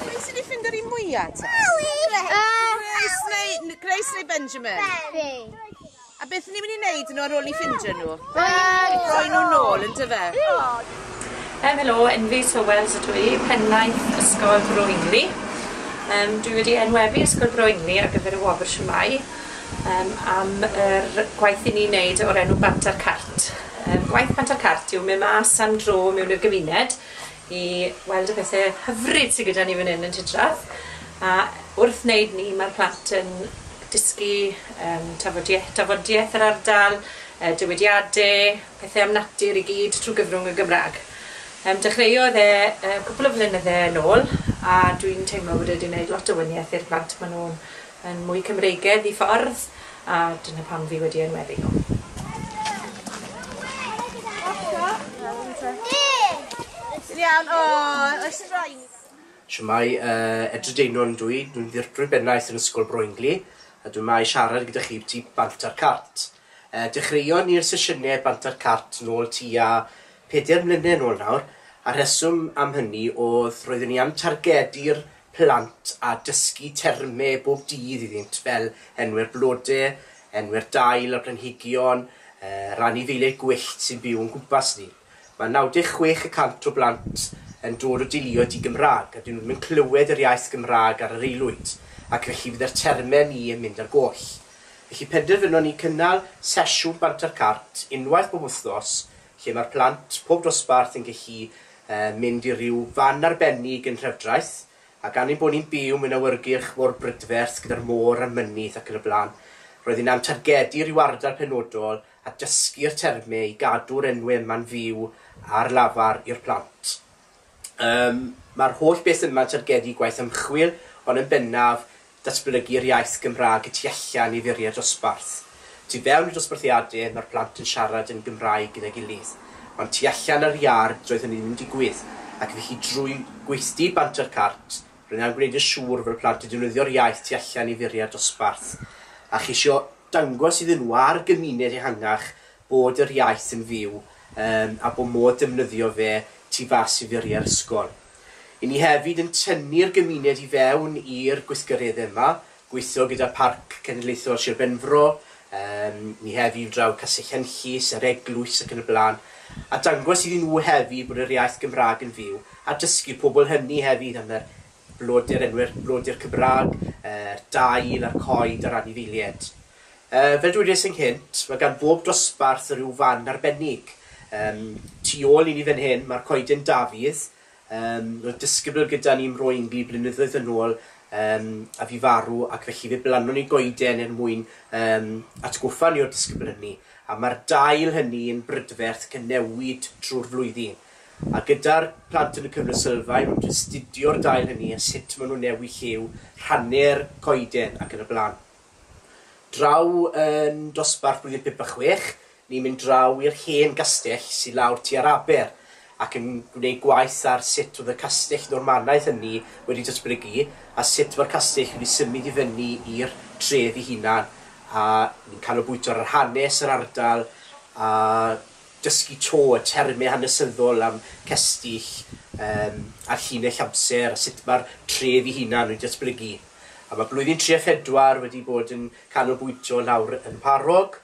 Pwy sy'n ei ffinder i mwya ta? Grace neu, Grace neu Benjamin? Benjamin. A beth ni'n mynd i wneud nhw ar ôl i ffindio nhw? Rhoi nhw'n ôl yn dyfe? Um, helo, Enfi Sowells ydw i, pennaeth Ysgol Bro Ingli. Um, dwi wedi enwebu Ysgol Bro Ingli ar gyfer y wobr siwmai um, am yr gwaith i ni wneud o'r enw Banter Cart. T, Gwaith Pant a'r Cart yw mynd mas am dro mewn i'r gymuned i weld y pethe hyfryd sy gyda ni fan 'yn yn Tŷ Trath, a wrth wneud 'ny ma'r plant yn dysgu yym tafodie- dafodieth yr ardal, yy dywediade, pethe am natur i gyd trw gyfrwng y Gymra'g. Yym dechreuodd e yy cwpwl o flynydde yn ôl a dwi'n teimlo bod e 'di neud lot o wanieth i'r plant ma' nw'n yn mwy Cymreigedd i ffwrdd a dyna pam fi wedi enwebu nhw. Shwmae, yy Edryr Deinwr ydw i, dwi'n ddirprwy bennaeth yn Ysgol Broingli a dwi 'ma i siarad gyda chi ambyti bant a'r cart. Yy dechreuon ni'r sesiyne bant a'r cart nôl tua peder mlyne nôl nawr a'r rheswm am hynny o'dd roeddwn i am targedu'r plant a dysgu termau bob dydd iddynt fel enw'r blodau, enw'r dail, y planhigion, yr anifeiliaid gwyllt sy'n byw o'n gwmpas ni. Mae 96 y cant o blant yn dod o deuluoedd di-Gymraeg a dyn nhw ddim yn clywed yr iaith Gymraeg ar yr aelwyd ac felly fydd yr termau ni yn mynd ar goll. Felly penderfynon ni cynnal sesiwn Banter Cart unwaith bob wythnos lle mae'r plant, pob dosbarth, yn gallu mynd i ryw fan arbennig yn Nhrefdraeth, a gan ein bod ni'n byw mewn awyrgylch mor brydferth gyda'r môr a'r mynydd ac yn y blaen, roedden ni am targedu ryw ardal penodol a dysgu'r termau i gadw'r enwau yma'n fyw ar lafar i'r plant. Yym, mae'r holl beth yma'n targedu gwaith ymchwil, ond yn bennaf, datblygu'r iaith Gymraeg y tu allan i furiau'r dosbarth. Tu fewn i'r dosbarthiadau, mae'r plant yn siarad yn Gymraeg gyda'i gilydd, ond tu allan ar iard doedd hynny ddim yn digwydd, ac felly drwy gweithdy Banter Cart, rydyn am gwneud yn siŵr fod y plant yn defnyddio'r iaith tu allan i furiau'r dosbarth, a cheisio dangos iddyn nhw a'r gymuned ehangach bod yr iaith yn fyw yym a bod modd defnyddio fe tu fas i furiau'r ysgol. I ni hefyd yn tynnu'r gymuned i fewn i'r gweithgareddau yma, gweithio gyda Parc Cenedlaethol Sir Benfro, yym ni hefyd i draw Castell Henllys, yr Eglwys ac yn y blaen, a dangos iddyn nhw hefyd bod yr iaith Gymraeg yn fyw a dysgu pobl hynny hefyd am yr Blodeu'r enwir, blodeu'r Cymraeg, yr dail a'r coed a'r anifeilied. Yy, fel dwedais ynghynt, mae gan bob dosbarth ryw fan arbennig. Yym, tu ôl i ni fan hyn, mae'r coeden Dafydd. Yym, roedd disgybl gyda ni ym Mro Ingli blynyddoedd yn ôl, yym, a fu farw, ac felly fe blannon ni goeden er mwyn, yym, atgoffa ni o'r disgybl hynny. A mae'r dail hynny yn brydferth ac yn newid trwy'r flwyddyn. A gyda'r plant yn y cyfnod sylfaen, maen nhw'n astudio'r dail hynny a sut maen nhw'n newid lliw, rhannu'r coeden ac yn y blaen. Draw yn dosbarth blwyddyn pump a chwech, ni'n mynd draw i'r hen gastell sy lawr tua'r aber ac yn gwneud gwaith ar sut oedd y castell Normanaidd hynny wedi datblygu a sut mae'r castell wedi symud i fyny i'r tref ei hunan a ni'n canolbwyntio ar yr hanes yr ardal a dysgu to, y termau hanesyddol am cestyll yym a llinell amser a sut mae'r tref ei hunan wedi datblygu. A mae blwyddyn tri a phedwar wedi bod yn canolbwyntio nawr yn Mharog,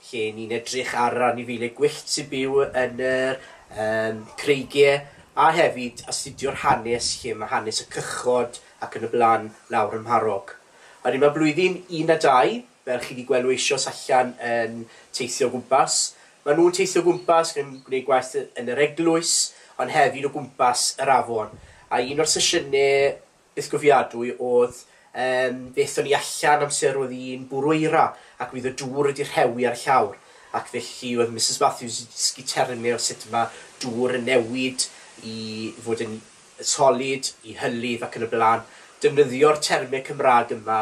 lle ni'n edrych ar yr anifeiliaid gwyllt sy'n byw yn yr yym creigiau, a hefyd astudio'r hanes lle mae hanes y cychod ac yn y blaen nawr ym Mharog. A wedyn mae blwyddyn un a dau, fel chi 'di gweld nhw eisioes allan yn teithio o gwmpas. Maen nhw'n teithio o gwmpas, maen nhw'n gwneud gwaith yn yr eglwys, ond hefyd o gwmpas yr afon. A un o'r sesiynau bythgofiadwy oedd yym fe aethon ni allan amser oedd hi'n bwrw eira ac oedd y dŵr wedi rhewi ar y llawr ac felly oedd Misus Matthews wedi dysgu termau o sut mae dŵr yn newid i fod yn solid, i hylif ac yn y blaen. Defnyddio'r termau Cymraeg yma